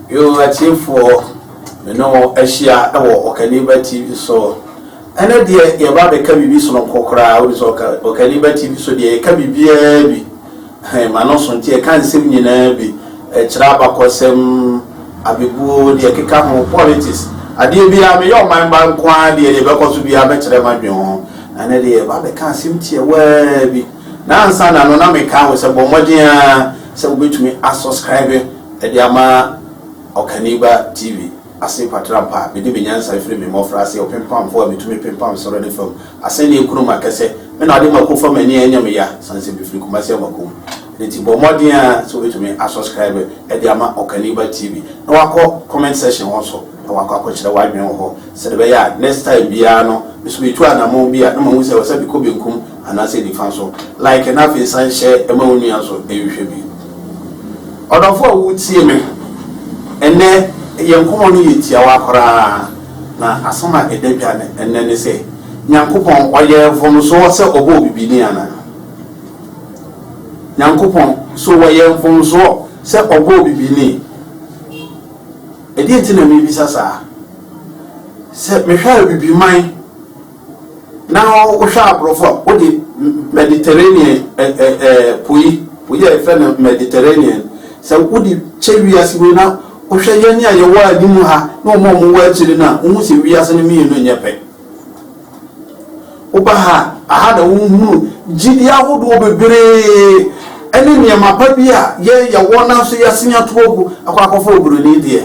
Yo atiefoɔ me ne wo ahyia wɔ Ɔkaniba TV so ɛnɛ deɛ yɛba bɛka biribi sononko koraa wode sɛ Ɔkaniba TV so deɛ yɛka biribiaa bi He ma no so nti ɛka nsem nyinaa bi, ɛkyerɛ abakɔsɛm, abebuo, deɛ ɛkeka ho, politics, adeɛ biara, meyɛ ɔman ba nko ara deɛ, deɛ ɛbɛkɔ so biara mɛkyerɛ madwene ho, ɛnɛ deɛ yɛba abɛka asem tiawaa bi, na ansa na no na meka ho sɛ bɔ mmɔden ara sɛ wobɛtumi asɔskraibe de ama Ɔkaniba TV. ase mpatram pa a mede me nyansa firi me mmɔfraase ɔpempamfo a mitumi pempam soro ne fam asɛnneɛ kurom akɛsɛ me na ɔde ma ko fa m'ani a ɛnyɛ me ya sane sɛ mefiri Kumasi aba ko mu ɛno nti bɔ mmɔden ara sɛ wobɛtumi asɔskraibe de ama Ɔkaniba TV na wakɔ comment section hɔ nso na wakɔ akɔkyerɛ w'adwene wɔ hɔ sɛdeɛ ɛbɛyɛ a next time biara no me nso metu anammɔn bi a na mahu sɛ ɛwɔ sɛ mekɔ benkum Anaasɛ nifa so. Like na afei san hyɛ ma wo nua so nhwɛ bi. Ɔdɔfo a wutie me, ɛnnɛ yɛn nkɔmmɔ no yɛ tiawa koraa, na asɛm a ɛda dwa ɛnnɛ ne sɛ, Nyankopɔn ɔyɛ mfomsoɔ sɛ ɔbɔɔ bibini anaa? Nyankopɔn, so ɔyɛ mfomsoɔ sɛ ɔbɔɔ bibini? Ɛdeɛn nti na mebisa saa? Sɛ mehwɛ a bibiman. Na wohwɛ aborɔfo a, wode Mediterranean po yi, po yi a yɛfrɛ no Mediterranean, sɛ wode kyɛ wiase wei na wohwɛ yɛn a yɛwɔ anim ha ne wɔn a wɔwɔ akyiri no a, wohu sɛ wiase no mmienu nyɛ pɛ. Woba ha a, aha na wohunu gyidi ahodoɔ bebree ne nneɛma pa bi a yɛn yɛwɔ nanso yɛasen ato agu akɔ akɔfa oburoni deɛ.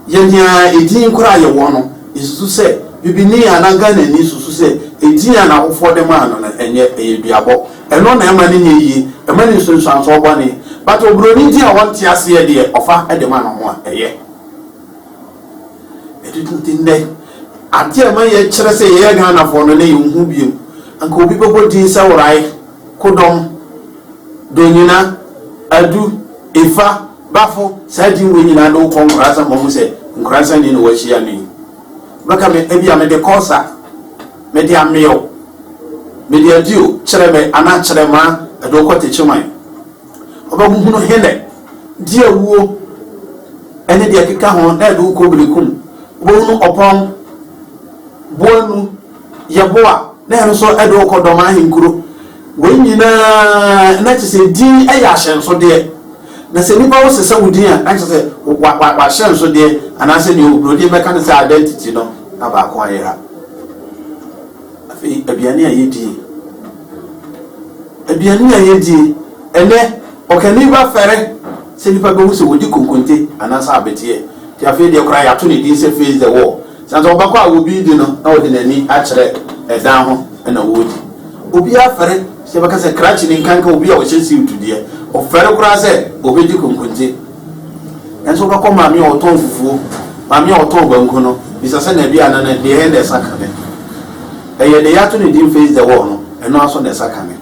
Yɛnyaa edin koro a yɛwɔ no, yɛsusu sɛ Bibini anaa Ghanani susu sɛ edin a n'awofoɔ de maa no no, ɛnyɛ, ɛyɛ duabɔ. Ɛno na ɛmma no nyɛ yie, ɛma no nsunsuansoɔ bɔne. But oburoni din a wɔnte aseɛ deɛ, ɔfa de ma no ho a, ɛyɛ. Ɛde to nti nnɛ, adeɛ a ɛma yɛkyerɛ sɛ yɛyɛ Ghanafoɔ no, na yɛnhu biom. Anka obi bɛbɔ din sɛ Orae, Kodɔm, Donyina, Adu, Efa, Bafo, saa din wei nyinaa de wo kɔ Nkoransan ma ɔhu sɛ Nkoransan ni na wahyia me yi. Bɛka me, ebia mede kɔ sa, mede amee o, mede adi o, kyerɛ me anaa kyerɛ maa ɛde wo kɔ Techiman. Ɔbɛhuhunu henɛ, deɛ awuo ne deɛ ɛkeka ho na ɛde wo kɔ Berekum. Wobɛhunu ɔpɔn, boanu. Yeboah, na hɛn so ɛde wo kɔ dɔm ahenkuro. Wei nyina na kyerɛ sɛ din yɛ ahyɛnsodeɛ. Na sɛ nipa wo sesa wo din a, na kyerɛ sɛ wa wa wahyɛnsodeɛ anaa sɛ deɛ oburodin bɛka no sɛ identity no na baako ayera. Afei aduane a yɛdie, aduane a yɛdie ɛnɛ ɔkani ba fɛrɛ sɛ nipa bɛhu sɛ wɔdi konkonte anaa sɛ abɛteɛ. Nti afei deɛ koraa yɛato ne din sɛ face the wall. Na sɛ ɔbɛkɔ a obi de no na ɔde n'ani akyerɛ ɛdan ho na ɔredi. Obiara fɛre sɛ yɛbɛka sɛ krakye ni, nkanka obi a ɔhyɛ siwutu deɛ. Ɔfɛre koraa sɛ ɔbɛdi konkonte. Nanso wobɛkɔ maame a ɔtɔn fufuo, maame a ɔtɔn banku no, bisa sɛ na ɛdeɛ a na ne deɛ na ɛsa ka me. Ɛyɛ deɛ yɛato no din face the wall no, ɛno ara so na ɛsa ka me.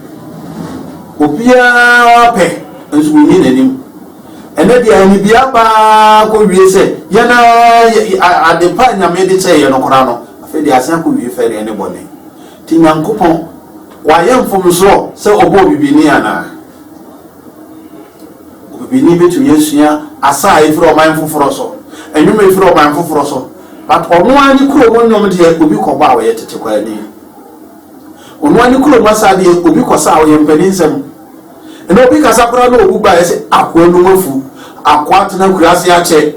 Obiara pɛ nso wɔnni n'anim. Ɛnɛ deɛ anibea paa kɔ wie sɛ yɛn ara ade pa a Nyame de kyɛɛ yɛn no koraa no afei deɛ asan kɔ wie fɛ deɛ ne bɔne. Nti Nyankopɔn wayɛ mfomsoɔ sɛ ɔbɔɔ bibini anaa? Obibini bɛtumi asua asa a ɛfiri ɔman foforɔ so, nnwom a ɛfiri ɔman foforɔ so, but ɔno ara ne kurom nnwom deɛ obi kɔbɔ a ɔyɛ tete kwaani. Ɔno ara ne kurom asa deɛ obi kɔsa a ɔyɛ mpaninsɛm. Ɛnna obi kasa koraa na owu baeɛ sɛ akoa num afu, akoa atena akuraase akyɛ.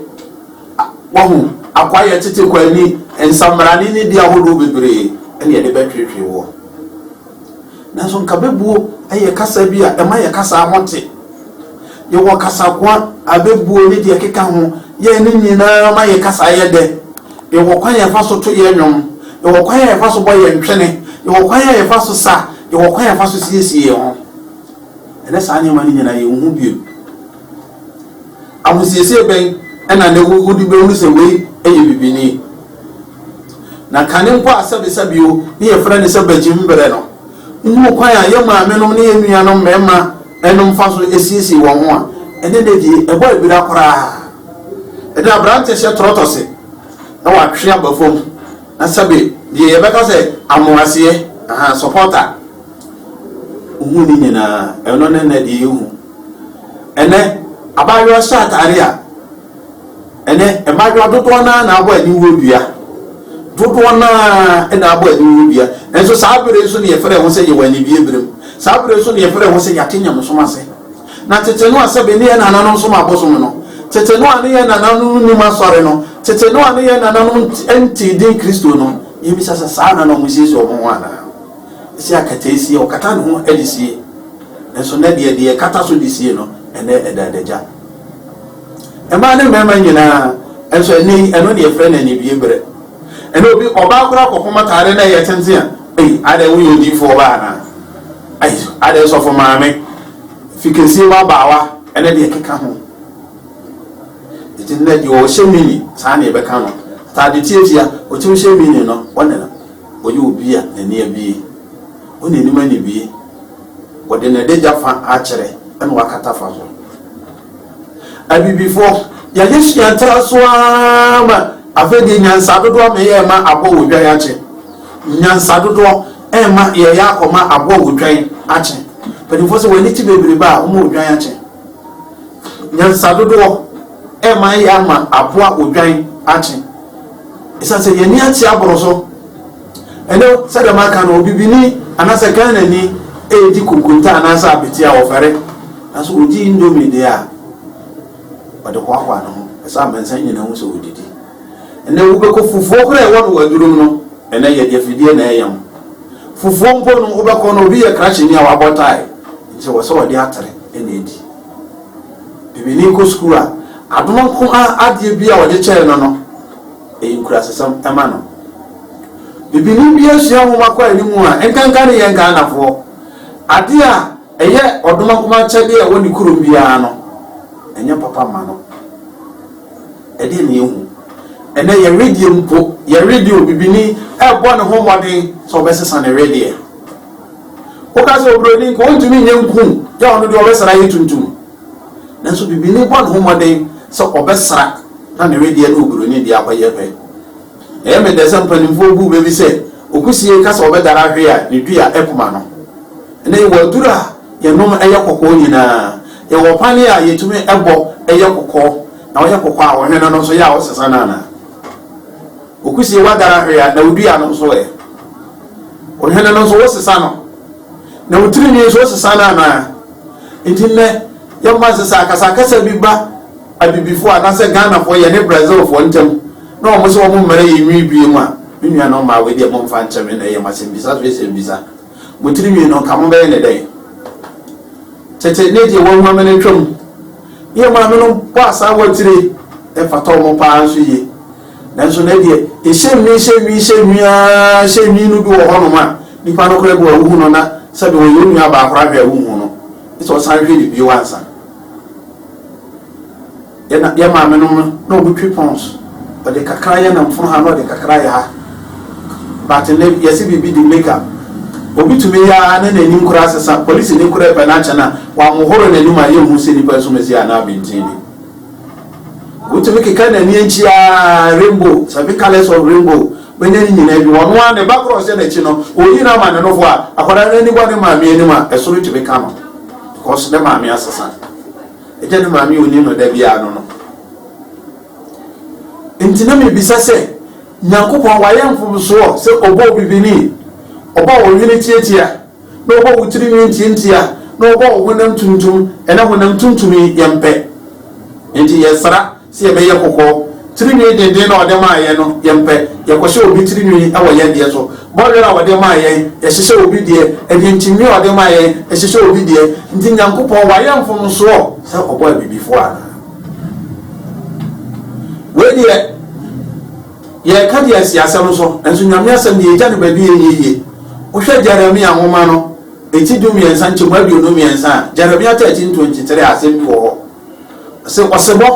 A Wahu, akoa yɛ tete kɔ ani, nsammarane ne di ahodoɔ bebree na yɛde bɛtweetwee woɔ. Nanso nka bɛbuo yɛ kasa bi a ɛma yɛ kasaa ho te. Yɛwɔ kasakoa, abɛbuo ne deɛ ɛkeka ho, yɛn ne nyinaa ma yɛ kasaa yɛ dɛ. Yɛwɔ kwan a yɛfa so to yɛn nnwom. Yɛwɔ kwan a yɛfa so bɔ yɛn ntwene. Yɛwɔ kwan a yɛfa so sa. Yɛwɔ kwan a yɛfa so siesie yɛn ho. Ɛnnɛ saa nneɛma no nyinaa yenhu bio. Ahosiesie bɛn na nnɛ wode behu sɛ wei yɛ bibini? Na kane mpo a sɛbesɛbe o, ne yɛfrɛ no sɛ bagyim bere no, wohuu kwan a yɛn maamenom ne yɛn nuanom mmarima mfa so siesie wɔn ho a, ɛnnɛ de ɛbɔ abira koraa. Ɛde aberante hyɛ trɔtɔse na watwe aba fam na sɛbe deɛ yɛbɛka sɛ amoaseɛ aha sɔpɔta hu ne nyinaa ɛno ne nɛ deɛ yɛhu ɛnɛ abaayewa hyɛ ataare a ɛnɛ mmaayewa dodoɔ naa na abɔ aniwuo dua dodoɔ naa na abɔ aniwuo dua nanso saa bere nso ne yɛfrɛ ho sɛ yɛwɔ anibie berem saa bere nso ne yɛfrɛ ho sɛ yɛate nyamesom ase Na tete Noa sɛbe ne yɛn nananom som abosom no, tete Noa ne yɛn nananom nnim asɔre no, tete Noa ne yɛn nananom ntee din Kristo no, yɛbisa sɛ, saa nna na wɔsiesie wɔn ho anaa? Ɛsɛ akatae sie, wɔkata ne ho de sie, nanso nnɛ deɛ, deɛ ɛkata so de sie no, ɛnnɛ ɛda adagya. Mmaa ne mmarima nyinaa, nso ɛnnɛ yi, ɛno na yɛfrɛ no anidie berɛ. Ɛnnɛ obi, ɔbaa koraa kɔfom ataare na ɛyɛ tenten a, ei, adɛn woyɛ odiyifoɔ baa anaa? Ei, adɛn sɔfo maame? Fi kɛseɛ mu abaawa ne deɛ ɛkeka ho. Nti nnɛ deɛ ɔhyɛ mini saa na yɛbɛka no. Ataade tiatia, ɔtumi hyɛ mini no, ɔne no. Ɔyɛ obi a n'ani abue. Wo n'anim anibue. Ɔde n'adagya fa akyerɛ na wakata fa so. Abibifo, yɛde sua tra so ara ma afei deɛ nyansa dodoɔ ma yɛ ma abɔ wɔ dwan akye. Nyansa dodoɔ ɛma yɛyɛ akɔma abɔ wɔ dwan akye. Mpanimfoɔ sɛ w'ani kye bebrebe a wɔma odwan akye. Nyansa dodoɔ ɛma yɛ ama aboa odwan akye. Ɛsiane sɛ yɛn ani akye aboro so. Ɛnnɛ, sɛdeɛ maka no, Obibini anaasɛ Ghanani redi kunkunta anaasɛ abete a, ɔfɛre. Nanso ɔdi indomie deɛ a, ɔde hoahoa ne ho. Ɛsɛ amansan nyinaa hu sɛ ɔdidi. Ɛnnɛ, wobɛkɔ fufuo koraa a ɛwɔ no wɔ adurom no, ɛnnɛ yɛde afidie na ɛyam. Fufuo mpo no, wobɛkɔ no, obi yɛ krakyeni a wabɔ tae, nti ɛwɔ sɛ ɔde atere na ɛdi. Bibini kɔ sukuu a, adom nko ara adeɛ bi a wɔde kyɛɛ no no, Eyi nkurasesɛm ma no. Bibini bi asua nwoma kɔ anim a, nkanka ne yɛn Ghanafoɔ, adeɛ a ɛyɛ ɔdomankoma akyɛdeɛ a ɛwɔ ne kurom biara no, ɛnyɛ papa mma no. Ɛdeɛ ne yɛhu. Ɛnɛ yɛ wedeɛ mpo, yɛ wedeɛ bibini ɛbɔ ne ho mmɔden sɛ ɔbɛsesa ne wedeɛ. Woka sɛ oburoni nka ɔntumi nyɛ nku yɛ ɔno deɛ ɔbɛsra yɛ tuntum. Nanso bibini bɔ ne ho mmɔden sɛ ɔbɛsra na ne wedeɛ ne oburoni deɛ akɔyɛ pɛ. Ɛyɛ me dɛ sɛ mpanimfoɔ buu bɛ bi sɛ okusie reka sɛ ɔbɛdare ahwe a ne dua akum ano. Ɛnnɛ yɛwɔ aduru a yɛnom yɛ kɔkɔɔ nyinaa. Yɛwɔ ɔpane a yɛtumi bɔ yɛ kɔkɔɔ na ɔyɛ kɔkɔɔ a wo hwene no nso yɛ a wosesa no anaa? Okusie woadare ahwe a na wo dua no nso ɛ? Wo hwene no nso wosesa no? Na wo tirinwi nso wosesa no anaa? Enti nnɛ yɛmfa nse sɛ akasakasa bi ba Abibifoɔ anaasɛ Ghanafoɔ yɛne Brazilfoɔ ntam na wɔn se wɔn mmɛrɛ yɛn nwi bie mu a, me nuanom mmaa wei deɛ momfa nkyɛ me na ɛyɛ mo asɛmbisa so asɛmbisa. Mo tiri nwi no nka mobɛyɛ no dɛn? Tete ne deɛ wawu amene twam. Yɛn maamenom bɔ asaawa tire, ɛfata wɔn paa nso yie. Nanso na ɛdeɛ, ɛhyɛ nwi, hyɛ nwi, hyɛ nwi ara, hyɛ nwi no bi wɔ hɔnom a, nipa no koraa bi wɔ wohu no na sɛdeɛ ɔyɛ onua baa koraa hwɛ a wonhu no, gye sɛ ɔsan hwɛ no bio ansa. Yɛn yɛn maame nom no, na wɔn twi pons, ɔde kakra yɛ namfono ha na ɔde kakra yɛ ha, but ne yɛsi biribi de make up. Obi tumi yɛ ara ne n'anim koraa sesa, polisi ni koraa pɛ n'akyɛ no a, wɔahohoro n'anim a yɛnhu sɛ nipa nsumasi anaa ɔbenten bi. Wotumi keka no ani akyi ara, rainbow, seven colours of rainbow, bɛnya ne nyinaa bi. Ɔno ara ne ba korɔ hyɛ n'akyi no, ɔreyi no ama ne nofo a, akwadaa no ani bɔ ne maame anim a, ɛsoro tumi ka no. Because ne maame asesa. Ɛgya ne maame a ɔnim no da biara no no. Nti na mebisa sɛ, Nyankopɔn wayɛ mfomsoɔ sɛ ɔbɔ obi bini? Ɔba a ɔhwene tiatia. na ɔbɔ wo tiri nwi ntiantia, na ɔbɔ wo honam tuntum, ɛna honam tuntum yi yɛ mpɛ, nti yɛ sra sɛ yɛ bɛyɛ kɔkɔɔ, tiri nwi denden na ɔde maa yɛn no yɛ mpɛ, yɛ kɔ hyɛ obi tiri nwi wɔ yɛn deɛ so, bɔ werɛ a ɔde maa yɛn yɛ hyehyɛ obi deɛ, ɛdeɛ nkyimii a ɔde maa yɛn yɛ hyehyɛ obi deɛ, nti Nyankopɔn wayɛ mfomsoɔ sɛ ɔbɔ abibifoɔ anaa? Wei deɛ. Yɛreka deɛ ɛsi asɛm so, nanso Nyame asɛm deɛ ɛgya no baabi yɛ yieyie. Wohwɛ Jeremia nwoma no eti dummiɛnsa nkyɛmu aduonu mmiɛnsa a, Jeremia 13 23 a, asɛm bi wɔ hɔ. Ɔse, ɔsebɔ,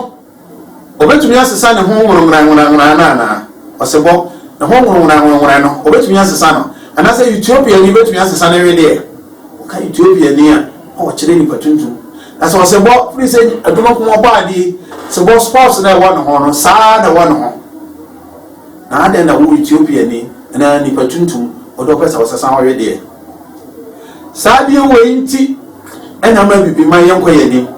ɔbɛtumi asesa ne ho nworonworanworanworan no anaa? Ɔsebɔ, ne ho nworonworanworanworan no, ɔbɛtumi asesa no? Anaasɛ Ethiopiani bɛtumi asesa ne wedeɛ? Wɔka Ethiopiani a, na ɔkyerɛ nipa tuntum. Na sɛ ɔsɛ bɔ, firi sɛ adwuma ko ɔbɔ adeɛ yi, sɛ bɔ sports na ɛwɔ ne ho no, saa na ɛwɔ ne ho. Na adɛn na wo Ethiopiani na nipa tuntum ɔde ɔpɛ sɛ ɔsɛ san ɔwe deɛ. Saa adeɛ wei nti ɛna ama abibi man yɛnkɔ yɛn anim.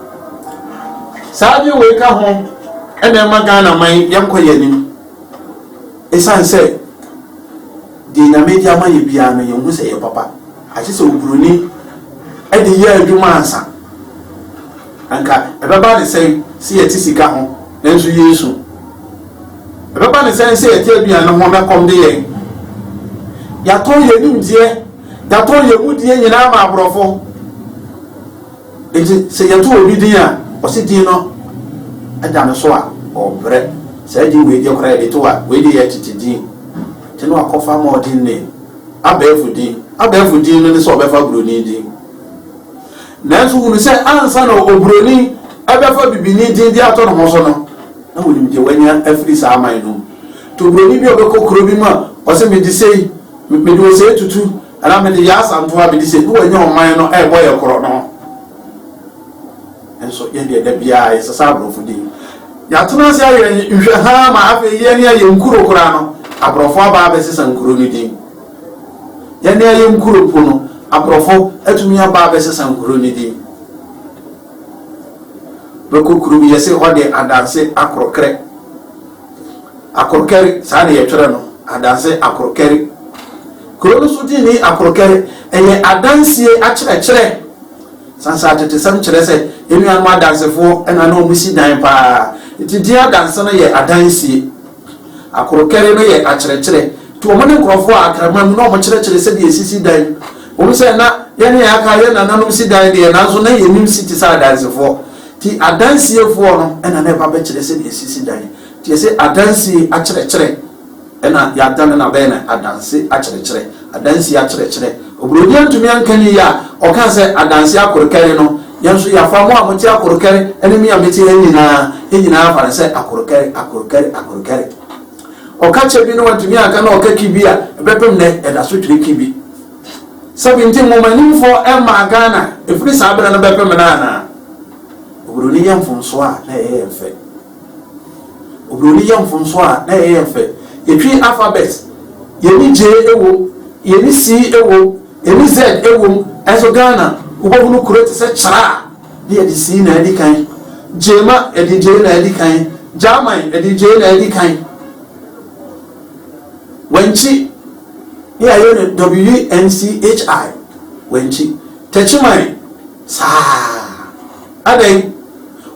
Saa adeɛ wei ka ho ɛna ɛma Ghana man yɛnkɔ yɛn anim. Ɛsiane sɛ Deɛ Nyame de ama yɛ biara no yɛnhu sɛ ɛyɛ papa agye sɛ obroni de yɛ adwuma ansa. Anka ɛbɛba ne sɛn sɛ yɛte sika ho nanso yɛresu? Ɛbɛba ne sɛn sɛ yɛte aduane ho na ɛkɔm de yɛn? Yɛatɔn yɛn nimdeɛ, yɛatɔn yɛn mudie nyinaa ma aborɔfo. Enti sɛ yɛto obi din a, ɔse din no da no so a, ɔbrɛ. Saa din wei deɛ koraa yɛde to a, wei deɛ yɛ tete din. Nti na wakɔfa modern name, abɛɛfo din. Abɛɛfo din no ne sɛ ɔbɛfa Buroni din. Nanso hunu sɛ ansa na Oburoni bɛfa Bibini din de ato ne ho so no, na wɔnim deɛ wanya afiri saa aman no mu. Nti Oburoni bi a ɔbɛkɔ kuro bi mu a, ɔse mede sei, mede ɔsei tutu, Ɛna mede yɛ asantoa bedi sɛ bi wɔnyɛ ɔman no ɛbɔ yɛ korɔ no nso yɛ deɛ da biara yɛ sesa aborɔfo din yɛatena ase ayɛ nhwɛ haa ma afei yɛ ne ayɛ nkuro koraa no aborɔfo aba abɛsesa nkuro no din yɛ ne ayɛ nkuro mpo no aborɔfo atumi aba abɛsesa nkuro no din bɛkɔ kuro bi yɛse hɔ deɛ adanse akorɔkrɛ Akorkɛre, saa na yɛtwerɛ no, adanse Akorkɛre. Kuro no nso din ne Akorkɛre. Ɛyɛ adansie akyerɛkyerɛ. Sansa atetesɛm kyerɛ sɛ yɛn nuanom adansefoɔ na na wɔsi dan pa ara, enti din adanse no yɛ adansie. Akorkɛre no yɛ akyerɛkyerɛ, enti wɔn ne nkurɔfoɔ a akra ma mu na wɔkyerɛkyerɛ sɛdeɛ yɛsisi dan. Ɛwom sɛ na yɛn a yɛaka yɛn nananom si dan deɛ, nanso na yɛnnim si te sɛ adansefoɔ. Nti adansiɛfoɔ no na na ɛba bɛkyerɛ sɛdeɛ ɛsisi dan. Nti yɛse adansie akyerɛkyerɛ na yɛadane no abɛyɛ no adanse akyerɛkyerɛ, adansie akyerɛkyerɛ. Oburoni antumi anka ne yie a ɔkaa sɛ adanse akorokɛre no, yɛn nso yɛafa mo a mote akorokɛre ne me a mete ha nyinaa, yɛn nyinaa afa no sɛ akorokɛre, akorokɛre, akorokɛre. Ɔka kyɛ bi no wantumi anka na ɔka ki bi a ɛbɛpem nnɛ yɛda so twere ki bi. Sɛbi nti nhomanimfoɔ mmaa Ghana ɛfiri saa berɛ no bɛpem no anaa? Obroni yɛ mfomsoɔ a na ɛyɛ yɛn fɛ. Obroni yɛ mfomsoɔ a na ɛyɛ yɛn fɛ. Yɛtwi alphabet, yɛni J ɛwom, yɛni C ɛwom, yɛni Z ɛwom, ɛnso Ghana wobɛhunu kuro te sɛ Kyra a na yɛde C na adi kan, Gyema yɛde J na adi kan, Gyaman yɛde J na adi kan, Wankyi, ne ayɛ no WNCHI wankyi tɛkyi man saa adɛn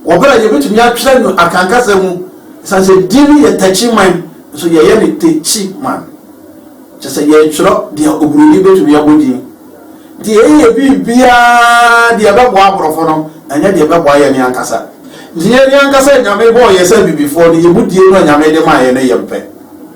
wɔ bere a yɛbɛtumi atwerɛ no akankasa mu ɛsiane sɛ din no yɛ tɛkyi man nso yɛyɛ no tekyi man kyɛ sɛ yɛtwerɛ deɛ oburoni bɛtumi abɔ din nti yɛyɛ yɛ biribiaa deɛ ɛbɛboa aborɔfo no ɛnyɛ deɛ ɛbɛboa yɛ ne ankasa nti yɛ ne ankasa nyame bɔɔ yɛ sɛ abibifoɔ no yɛ mu die no a nyame de maa yɛ no yɛ mpɛ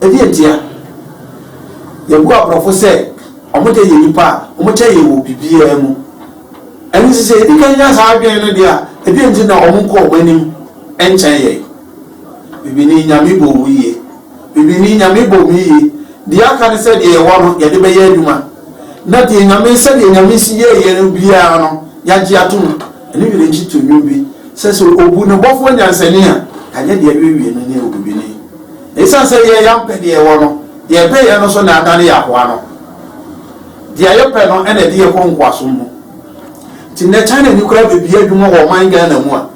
Ɛdeɛ ntia? Yɛbu aborɔfo sɛ wɔn deɛ yɛ nnipa a wɔkyɛn yɛn wɔ biribiara mu. Ɛno nti sɛ yɛdi kan nya saa adwene no deɛ a, ɛdeɛ nti na wɔn nkɔ wɔn anim nkyɛn yɛn? Bibini, Nyame bɔɔ wo yie. Bibini, Nyame bɔɔ me yie. Deɛ aka ne sɛ deɛ yɛwɔ no yɛde bɛyɛ adwuma na deɛ Nyame, sɛdeɛ Nyame si yɛɛ yɛn no biara no yɛagye atom. Ɛno werɛ nkye to nnwom bi sɛ, sɛ obu ne bɔfoɔ nyansani a, anyɛ deɛ ɛrewie no ne wo bibini. Esiane sɛ yɛn yɛampɛ deɛ yɛwɔ no, deɛ ɛbɛeɛ no so na adane yɛn akoa no. Deɛ a yɛpɛ no na ɛde yɛn kɔ nkoasom mu. Nti nnɛ China ni koraa bɛbie adwuma wɔ ɔman Ghana mu a,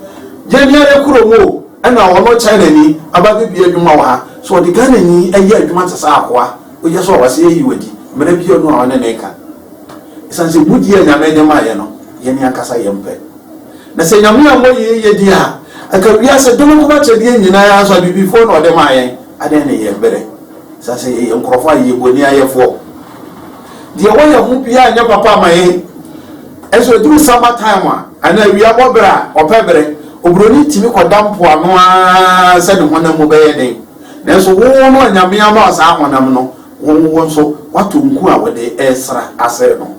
yɛn ara kurom o, ɛna ɔno China ni aba abɛbie adwuma wɔ ha. So ɔde Ghana ni ɛyɛ adwuma te sɛ akoa, woyɛ so a wase ayi wo adi, mmara biara nni hɔ a ɔne no reka. Esiane sɛ mudie a Nyame de maeɛ no, yɛn ankasa yɛmpɛ. Na sɛ Nyame ammɔ yei yɛ deɛ a, anka wiase dom nko akyɛdeɛ nyina ara nso Abibifoɔ na wɔde maa yɛn, adɛn ne yɛn berɛ saa, sɛ yɛyɛ nkorɔfoɔ a yɛyɛ boniayɛfoɔ, deɛ ɛwɔ yɛn ho biara nyɛ papa ma yɛn, ɛnso ɛduru summer time a, anaa awia bɔ berɛ a, ɔpɛ berɛ, obroni tumi kɔda mpoano ara sɛ ne honam mu bɛyɛ den, nanso wo no a Nyame ama wo saa honam no, Wo wo nso woato nku a wode resra asɛe no.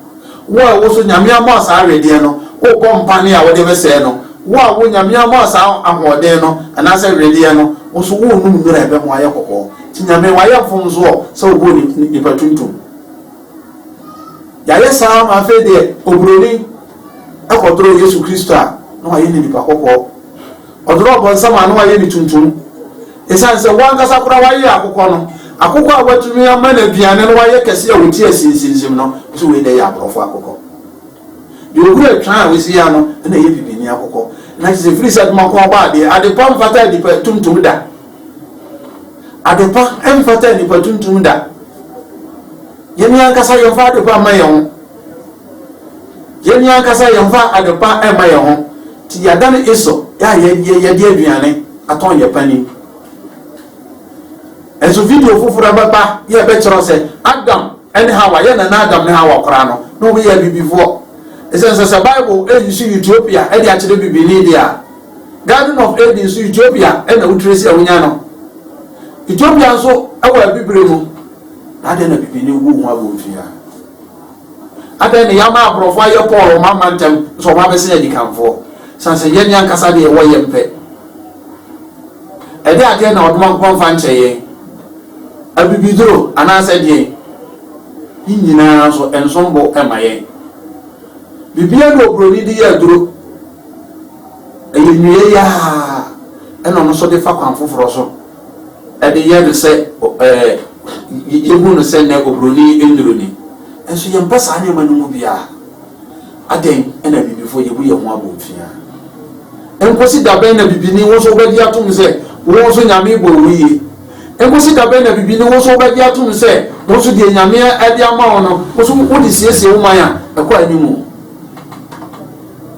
Wo a wo so Nyame ama saa wedeɛ no, wobɔ mpane a wode bɛsɛe no. Wo a wo Nyame ama saa ahoɔden no anaasɛ wedeɛ no, wo nso worenom nnuro a ɛbɛma woayɛ kɔkɔɔ. Nti Nyame, wayɛ mfomsoɔ sɛ ɔbɔɔ nipa tuntum. Yɛayɛ saa ma afei deɛ oburoni. kɔdoroo Yesu Kristo a na wɔayɛ no nipa kɔkɔɔ. Ɔdoroo Ɔbonsam a na wɔayɛ no tuntum. Esiane sɛ wankasa koraa wayɛ akokɔ no, akokɔ a watumi ama no aduane no wayɛ kɛse a wɔte asinsinsim no, ɔsɛ wei dɛ yɛ aborɔfo akokɔ. Deɛ ɔhuru atwan a wɔsi yɛ ano na ɛyɛ bibini akokɔ. Na kyerɛ sɛ ɛfiri sɛ adwuma ko ɔbɔ adeɛ, adepa mfata nipa tuntum da. Adepa mfata nipa tuntum da. Yɛn ankasa yɛmfa adepa mma yɛn ho. Yɛn ankasa yɛmfa adepa mma yɛn ho, nti yɛadane Esau a yɛde aduane atɔn yɛn panin. Nanso video foforo bɛba na ɛbɛkyerɛw sɛ Adam ne Hawa, yɛn nana Adam ne Hawa koraa no, na wɔyɛ abibifoɔ. Esiane sɛ sɛ Bible resusu Ethiopia de akyerɛ bibini deɛ a, Garden of Eden nso Ethiopia na wotire si a wonya no. Ethiopia nso wɔ abibire mu, na adɛn na bibini wu ho abomfiaa? Adɛn na yɛama aborɔfo ayɛ Paul ɔman ma ntɛm na sɛ wɔabɛsen adikanfoɔ? Sane sɛ yɛn ankasa deɛ yɛwɔ yɛn pɛ. Ɛdeɛn adeɛ na ɔdomankopɔn mfa nkyɛ yɛn? Abibiduro anaasɛ deɛn? Ne nyinaa nso ɛnsom bo mma yɛn. Biribiara na oburoni de yɛ aduro. Ɛyɛ nnua yi ara na ɔno nso de fa kwan foforɔ so. de yɛ no sɛ ɛɛ yehu no sɛ nnɛ oburoni nnuru ni. Nanso yɛmpɛ saa nneɛma no mu biara. Adɛn na abibifo yebu yɛn ho abomfiaa? Enkosi da bɛn na bibini wo nso wobɛgye atom sɛ wo nso Nyame bɔɔ wo yie? Enkosi da bɛn na bibini wo nso wobɛgye atom sɛ wo nso deɛ Nyame de ama wo no wo nso wode siesie wo man a ɛkɔ anim?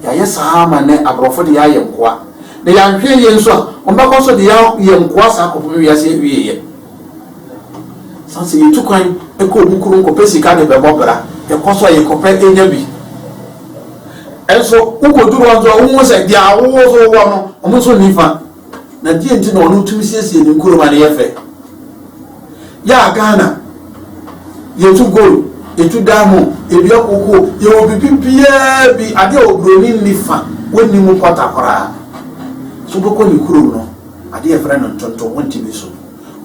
Yɛayɛ saa ama nnɛ aborɔfo de yɛayɛ nkoa, na yɛanhwɛ yiye nso a, wɔbɛkɔ so de yɛn ayɛ nkoa saa kɔpem wiase awieɛ. Saa sɛ yɛtu kwan kɔ obu kuro nkɔpɛ sika de bɛbɔ bra, yɛkɔ so a yɛkɔpɛ nya bi, nso wokɔduru hɔ nso a wohu sɛ deɛ wo nso wowɔ no, wɔn nso nni fa. Na deɛ nti na ɔno tumi siesie ne nkuro ma no yɛ fɛ. Yɛ a Ghana, yɛtu gold, yɛtu diamond, yɛdua koko, yɛwɔ biribi biara bi, adeɛ a oburoni nni fa, wɔnni mu kwata koraa. So wobɛkɔ ne kurom no, adeɛ yɛfrɛ no ntontom, wontumi so.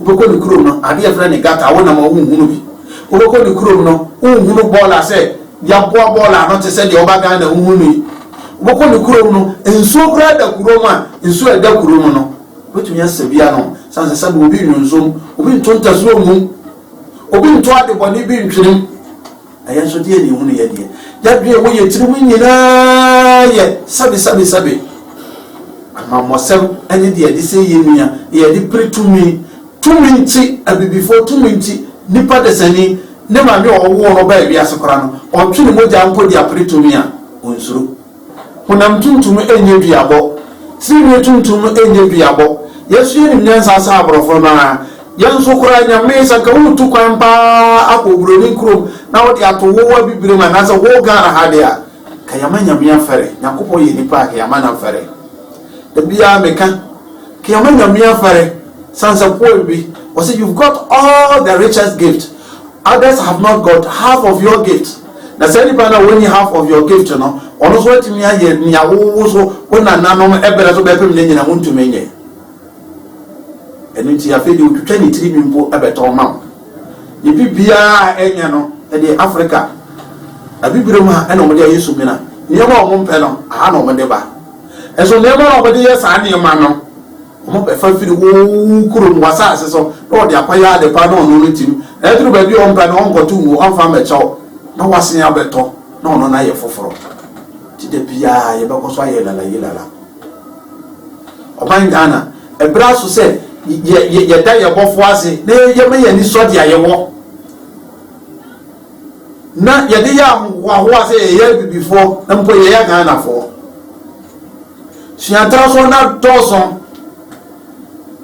Wobɛkɔ ne kurom no, adeɛ yɛfrɛ no gutter wonam a wonhunu bi. Wobɛkɔ ne kurom no, wonhunu bɔɔla sɛ yɛaboa bɔɔla ano te sɛ deɛ woba Ghana a wohu no yi. Wobɛkɔ ne kurom no, nsuo koraa da kurom a, nsuo a ɛda kurom no, wobɛtumi asa bi anom. Sane sɛ sɛbe obi nnwonsɔ mu, obi nto ntasuo mmom, obi nto adebɔne bi ntwenem. Na yɛn nso, deɛ na ehunu yɛn deɛ? Yɛadwene wɔ yɛn tirim nyinaa yɛ sɛbesɛbesɛbe. Amammɔsɛm ne deɛ yɛde sɛe yɛn nua, deɛ yɛde pere tumi, tumi nti, abibifoɔ tumi nti, nipa dasani, ne maame a ɔwoo no baa wiase koraa no, ɔtwe ne mogya mpo de apere tumi a, ɔnsuro. Honam tuntum nyɛ duabɔ. Tirinwi tuntum nyɛ duabɔ. Yɛn so yɛnim nyansa sɛ aborɔfo no ara. Yɛn nso koraa Nyame sɛ anka woretu kwan paa akɔ oburoni kurom na wode ato wo abibirem anaasɛ wo Ghana ha de a anka yɛama Nyame afɛre. Nyankopɔn yɛ nipa a anka yɛama no afɛre. Da biara meka anka yɛama Nyame afɛre. Sansɛ poem bi ɔse you've got all the richest gift others have not got half of your gift. Na saa nipa no a ɔnni half of your gift no, ɔno nso atumi ayɛ nea wo wo so wo nananom brɛ so bɛpem no nyinaa, wontumi nyɛ. Ɛno nti afei deɛ ɔtwitwa ne tirinwi mpo bɛtɔn ma wo. Ne biribiara a ɛnyɛ no, ɛdeɛ Africa Abibiram ha na wɔde ayɛ sumina. Nneɛma a wɔmpɛ no, aha na wɔde ba. Nso nneɛma a wɔde yɛ saa nneɛma no, Wɔbɛfa firi wo kurom, w'asase so, na wɔde apa yɛ ade pa na ɔno no tim, na aduru baabi a ɔmpɛ no, ɔnkɔto ngu, ɔmfa mmɛkyɛ wo, na w'asen abɛtɔ, na ɔno no ayɛ foforɔ. Nti da biara yɛbɛkɔ so ayɛ lala-yi-lala. Ɔman Ghana, ɛberɛ aso sɛ yɛ, yɛ, yɛda yɛn Bɔfoɔ ase na yɛma yɛn ani sɔ deɛ a yɛwɔ. na yɛde yɛ ahohoahoa sɛ yɛyɛ abibifoɔ na mpo yɛyɛ ghanafoɔ suata so na dɔɔso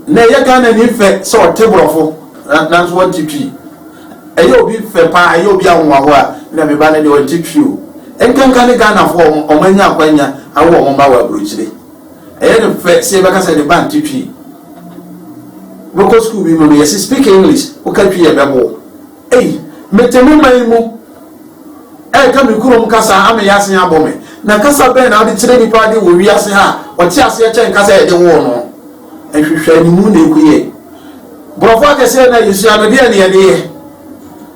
na ɛyɛ ghana ni fɛ sɛ ɔte borɔfo nanso wɔnte twi ɛyɛ obi fɛ paa ɛyɛ obi ahohoahoa na meba no deɛ ɔnte twi o nkanka ne ghanafoɔ ɔmo anya akwanya awo ɔmo ba wɔ aburokyire ɛyɛ ne fɛ sɛ yɛbɛka sɛ ne ba nte twi wobɛkɔ sukuu bi mu no yɛse speak english woka twi yɛbɛbo Ei, mete me man mu reka me kurom kasa a, ama ease abɔ me. Na kasa bɛn na wode kyerɛ nnipa ade wɔ wiase ha a wɔte aseɛ kyɛn kasa a yɛde woo no? Nhwehwɛanimu na ɛku yɛn. Borɔfo akɛseɛ na yɛsua no, deɛn na yɛde yɛ?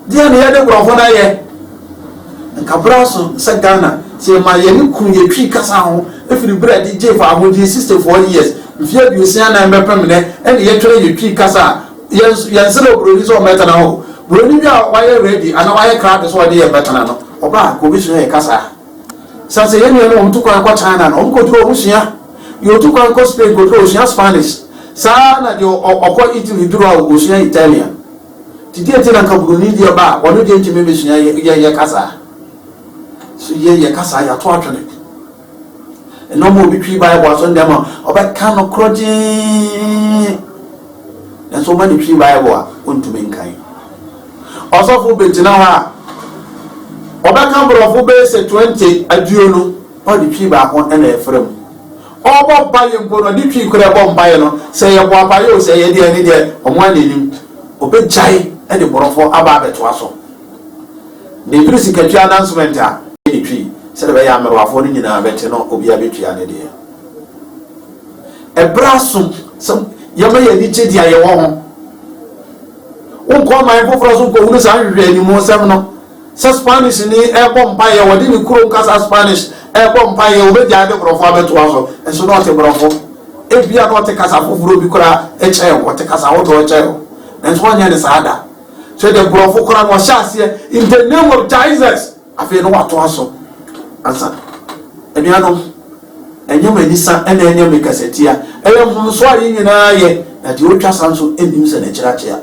Deɛn na yɛde borɔfo no ayɛ? Nka berɛ aso sɛ Ghana, sɛ yɛmaa yɛne kunu yɛtwii kasa ho firi berɛ a yɛde gyee fawohodie, 64 years, mfeɛ aduosia nan bɛpem nnɛ, ɛne yɛtwerɛ yɛtwii kasa a, Yɛn nso, yɛnsrɛ oburoni sɛ ɔmmɛtena hɔ o. Buroni bi a wayɛ ready anaa wayɛ krado sɛ ɔde yɛn bɛtena no, ɔba a, anka obesua yɛn kasa. Esiane sɛ yɛn nuanom a wɔtu kwan kɔ China no, wɔkɔduru hɔ a wɔsua. Deɛ ɔtu kwan kɔ Spain kɔduru hɔ a, ɔsua Spanish. Saa ara na deɛ ɔkɔ Italy duru hɔ a, ɔsua Italian. Nti deɛ nti na anka buroni deɛ ba a, ɔno deɛ ntumi mmɛsua yɛn kasa? So yɛn, yɛn kasa, yɛato atwene. Nneɛma a obi twi Bible aso nnɛ ma ɔbɛka no korɔgyenn, nanso woma no twi Bible a, ontumi nkan. Ɔsɔfo bɛgyina hɔ a, ɔbɛka borɔfo bɛyɛ sɛ 20 aduonu, na ɔde twi baako na ɛfrɛ mu. Ɔbɔ mpaeɛ mpo no, ɔde twi korɔ ɛbɔ mpaeɛ no, sɛ yɛbɔ apaeɛ o, sɛ ɛyɛ deɛ ne deɛ, wɔn a n'anim, ɔbɛgyae de borɔfo aba abɛtoa so. Mebiri sikatua announcement a etwii sɛdeɛ ɛbɛyɛ a mmerewafoɔ no nyinaa bɛte no obiara bɛtua ne deɛ. Ɛberɛ aso sɛ yɛma yɛn ani gye deɛ yɛwɔ ho. Wonkɔ aman foforɔ so nkɔhunu saa nhwehwɛ animuosɛm no. Sɛ Spanish ni ɛrebɔ mpaeɛ, wɔde ne kurom kasa Spanish ɛrebɔ mpaeɛ, wɔbɛgyae de borɔfo abɛtoa so. Nso na ɔte borɔfo. Ebia na ɔte kasa foforɔ bi koraa kyɛn wo, ɔte kasa ahodoɔ kyɛn wo. Nanso ɔnyɛ ne saa da. hwɛ deɛ nkurɔfo koraa na ɔhyɛ aseɛ in the name of jesus afei no watoa so ansa anuanom ɛnyɛ m'anisa ɛna ɛnyɛ me kasatia ɛyɛ mfomso a yɛn nyinaa yɛ na deɛ ɔtwa sa nso nnim sɛ n'akyiri akyea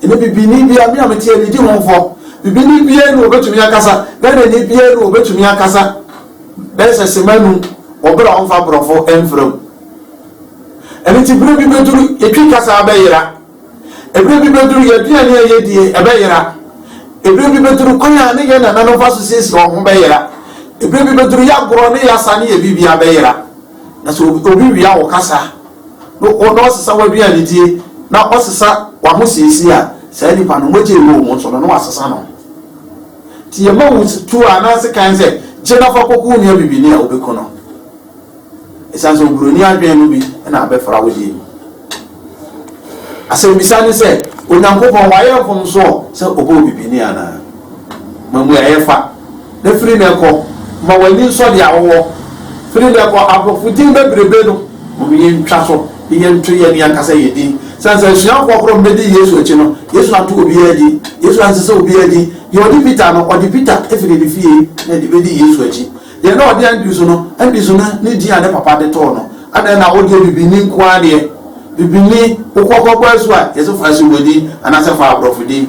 ɛne bibini bia me a mete anidi ho mfɔ bibini bia ne wɔbɛtumi akasa ghanani bia ne wɔbɛtumi akasa bɛyɛ sɛ sema num wɔberɛ a wɔmfa borɔfo mfrɛ mu ɛno nti berɛ bi bɛduru ɛtwi kasa bɛyera Ɛberɛ bi bɛduru yɛn aduane a yɛdie ɛbɛyera. Ɛberɛ bi bɛduru kwan a ne yɛn nananom fa so siesie wɔn ho bɛyera. Ɛberɛ bi bɛduru yɛn agorɔ ne yɛn asa ne yɛn biribiara bɛyera. Na sɛ obi wia wo kasa na ɔsesa w'aduanedie na ɔsesa w'ahosiesie a, saa nipa no mogya ɛwɔ wɔn mu nso no na wasesa no. Nti yɛma wo tuo anaa sekan sɛ gye na fa kɔku wo nua bibini a wobɛku no. Esiane sɛ oburoni adwene no bi na abɛfra wo deɛ mu. Asɛmmisa ne sɛ, Onyankopɔn wayɛ mfomso sɛ ɔbɔɔ bibini anaa? Ma mmuaeɛ fa, na firi nnɛ kɔ, ma w'ani nsɔ deɛ wowɔ. Firi nnɛ kɔ, aborɔfo din bebrebe no, mom yɛntwa so na yɛnto yɛn ankasa yɛn din. Esiane sɛ asuafoɔ korɔ mmɛdii Yesu akyi no, Yesu anto obiara din. Yesu ansesa obiara din. Deɛ ɔde Peter no, ɔde Peter firi ne fie na ɛde bɛdii Yesu akyi. Deɛ na ɔde adi so no, adi so no ne din a ne papa de too no. Adɛn na wodeɛ bibini nko ara deɛ? Bibini, wokɔ kɔbɔ asu a, yɛse fa Asiwɔ din anaasɛ fa aborɔfo din.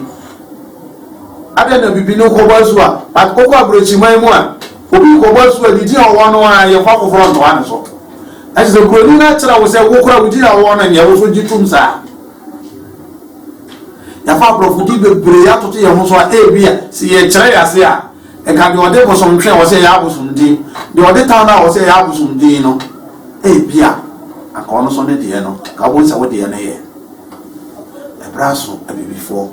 Adɛn na bibini wokɔbɔ asu a, but wokɔ aborɔkyiman mu a, obi rekɔbɔ asu a, ne din a ɔwɔ no ara yɛmfa foforɔ ntoa ne so. Ɛkyɛ sɛ buroni no akyerɛ wo sɛ wo koraa wo din a wowɔ no nyɛ, wo nso gye tom saa. Yɛafa aborɔfo din bebree atoto yɛn ho so a, ebia sɛ yɛkyerɛ yɛn ase a, Nka deɛ ɔde bosomtwe a ɔsɛ ɛyɛ abosomdee, deɛ ɔde tan a ɔsɛ ɛyɛ abosomdee no, ebi a, anka ɔno nso ne deɛ no, anka wobɛhu sɛ wo deɛ no yɛ. Ɛberɛ aso abibifoɔ,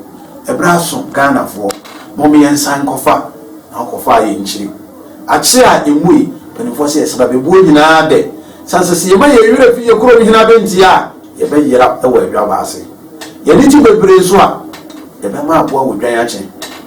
ɛberɛ aso Ghanafoɔ, mom yɛnsan nkɔfa na ɔkɔfa a yɛnkyiri. Akyere a ɛmu yi, mpanimfoɔ sɛ yɛsɛ bɛbɛbuo nyinaa dɛ, sane sɛ sɛ yɛma yɛn werɛ fi yɛn kurom hene abɛntie a, yɛbɛyera wɔ adwabɔ ase. Yɛn ani gye bebree nso a, yɛbɛma aboa wɔ dwan akye.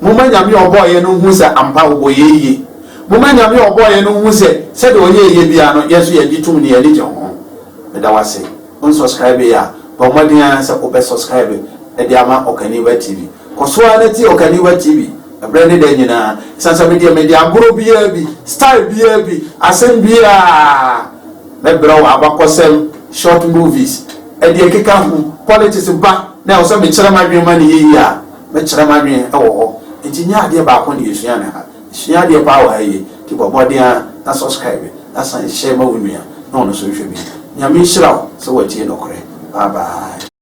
Momma Nyame a ɔbɔɔ yɛn no nhu sɛ ampa ɔbɔ yɛn yie. Momma Nyame a ɔbɔɔ yɛn no nhu sɛ sɛdeɛ ɔyɛɛ yɛn biara no, yɛn nso yɛgye tom na yɛn ani gye ho. Meda wo ase. Wonsɔskraibeeɛ a, bɔ mmɔden ara sɛ wobɛsɔskraibe de ama Ɔkaniba TV. Kɔ so ara na tie Ɔkaniba TV berɛ ne da nyinaa. Ɛsiane sɛ me deɛ mede agorɔ biara bi, style biara bi, asɛm biara, mɛbrɛ wo abakɔsɛm, short movies, deɛ ɛkeka ho, politics ba na ɛwɔ sɛ mekyerɛ m'adwene ma no yie a, Mɛkyerɛ m'adwene wɔ hɔ nti nyɛ adeɛ baako na yɛsua no ha. Yɛsua adeɛ paa wɔ ha yie nti bɔ mmɔden ara na subscribe na san hyɛ ma wo nua na ɔno nso nhwɛ bi. Nyame nhyira wo sɛ watie nɔkorɛ. Bye bye.